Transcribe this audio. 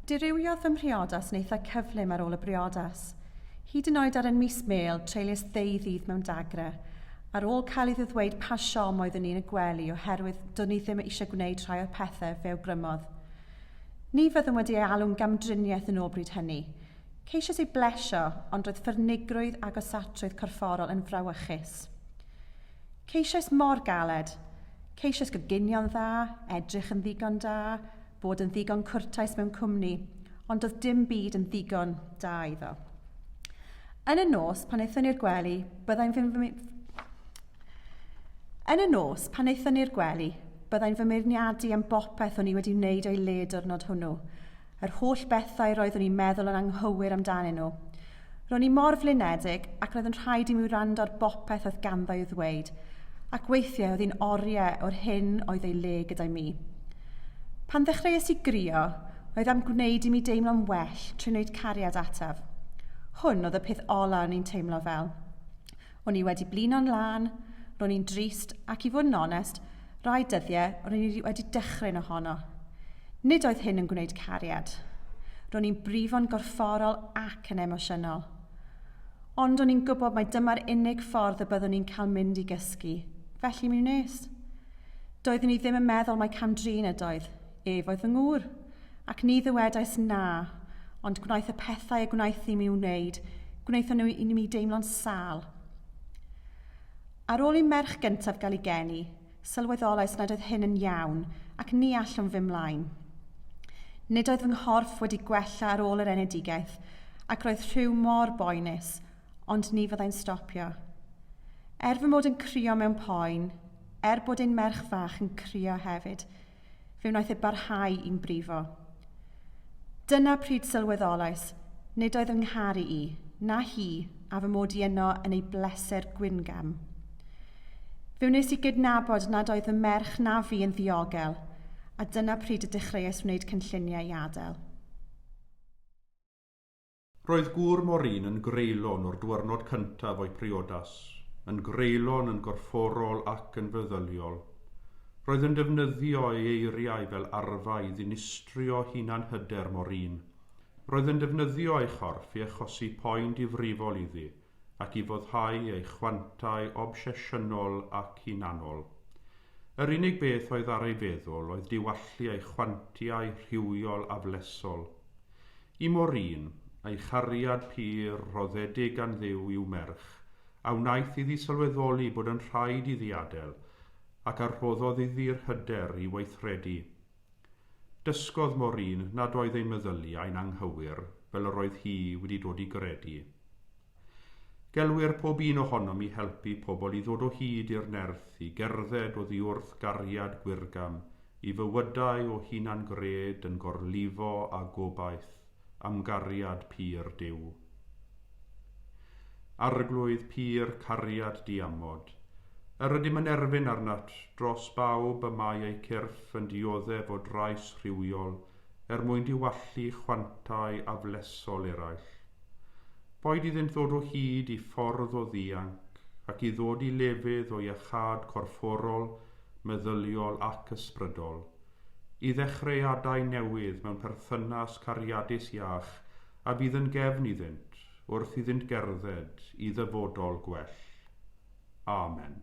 Dirywiodd fy mhriodas yn eitha cyflym ar ôl y briodas. Hyd yn oed ar yn mis Mel, treulies ddeu ddydd mewn dagrau. Ar ôl cael iddo ddweud pa siom oeddwn i'n y gwely oherwydd do'n i ddim eisiau gwneud rhai o'r pethau fe awgrymodd. Ni fyddwn wedi ei alw'n gamdriniaeth yn ôl bryd hynny. Ceisiais ei blesio, ond roedd ffyrnigrwydd agosatrwydd corfforol yn frawychus. Ceisiais mor galed. Ceisiais goginio'n dda, edrych yn ddigon da, bod yn ddigon cwrtais mewn cwmni, ond doedd dim byd yn ddigon da iddo. Yn y nos, pan aethon ni'r gwely, byddai'n fy... Yn y nos, pan aethon ni'r gwely, byddai'n fy meirniadu am bopeth o'n i wedi wneud o'i le diwrnod hwnnw. Yr holl bethau roeddwn i'n meddwl yn anghywir amdanyn nhw. Ro'n i mor flinedig ac roedd yn rhaid i mi wrando ar bopeth oedd ganddo i'w ddweud, ac weithiau oedd hi'n oriau o'r hyn oedd ei le gyda'i mi. Pan ddechreuais i grio, oedd am gwneud i mi deimlo'n well trwy wneud cariad ataf. Hwn oedd y peth ola o'n i'n teimlo fel. O'n i wedi blino'n lân, ro'n i'n drist ac i fod yn onest, Rai dyddiau ro'n i wedi dechrau'n ohono. Nid oedd hyn yn gwneud cariad. Ro'n i'n brifo'n gorfforol ac yn emosiynol. Ond o'n i'n gwybod mai dyma'r unig ffordd y byddwn i'n cael mynd i gysgu, felly mi wnes. Doeddwn i ddim yn meddwl mai cam-drin ydoedd, ef oedd fy ngŵr, ac ni ddywedais na, ond gwnaeth y pethau y gwnaeth i mi wneud, gwnaethon nhw i mi deimlo'n sâl. Ar ôl i'n merch gyntaf gael ei geni, sylweddolais nad oedd hyn yn iawn ac ni allwn fy mlaen. Nid oedd fy nghorff wedi gwella ar ôl yr enedigaeth ac roedd rhyw mor boenus, ond ni fyddai'n stopio. Er fy mod yn crio mewn poen, er bod ein merch fach yn crio hefyd, Fe wnaeth e barhau i'n brifo. Dyna pryd sylweddolais nid oedd fy ngharu i, na hi, a fy mod i yno yn ei bleser gwingam. Fe wnes i gydnabod nad oedd fy merch na fi yn ddiogel, a dyna pryd y dechreuais wneud cynlluniau i adael. Roedd gŵr Morin yn greulon o'r dwyrnod cyntaf o'i priodas, yn greulon yn gorfforol ac yn feddyliol. Roedd yn defnyddio ei eiriau fel arfa i ddinistrio hunan-hyder Morin. Roedd yn defnyddio ei chorff i achosi poen difrifol iddi, ac i foddhau ei chwantau obsesiynol ac hunanol. Yr unig beth oedd ar ei feddwl oedd diwallu ei chwantiau rhywiol aflesol. I Maureen, ei chariad pur rhoddedig gan Dduw i'w merch, a wnaeth iddi sylweddoli bod yn rhaid iddi adael, ac a rhoddodd iddi'r hyder i weithredu. Dysgodd Maureen nad oedd ei meddyliau'n anghywir fel yr oedd hi wedi dod i gredu. Gelwir pob un ohonom i helpu pobl i ddod o hyd i'r nerth i gerdded oddiwrth gariad gwyrgam i fywydau o hunan-gred yn gorlifo â gobaith. am gariad pur Duw. Arglwydd pur cariad diamod, yr ydym yn erfyn arnat dros bawb y mae eu cyrff yn dioddef o drais rhywiol er mwyn diwallu chwantau aflesol eraill. Boed iddynt ddod o hyd i ffordd o ddianc ac i ddod i lefydd o iachâd corfforol, meddyliol ac ysbrydol, i ddechreuadau newydd mewn perthynas cariadus iach a bydd yn gefn iddynt wrth iddynt gerdded i ddyfodol gwell. Amen.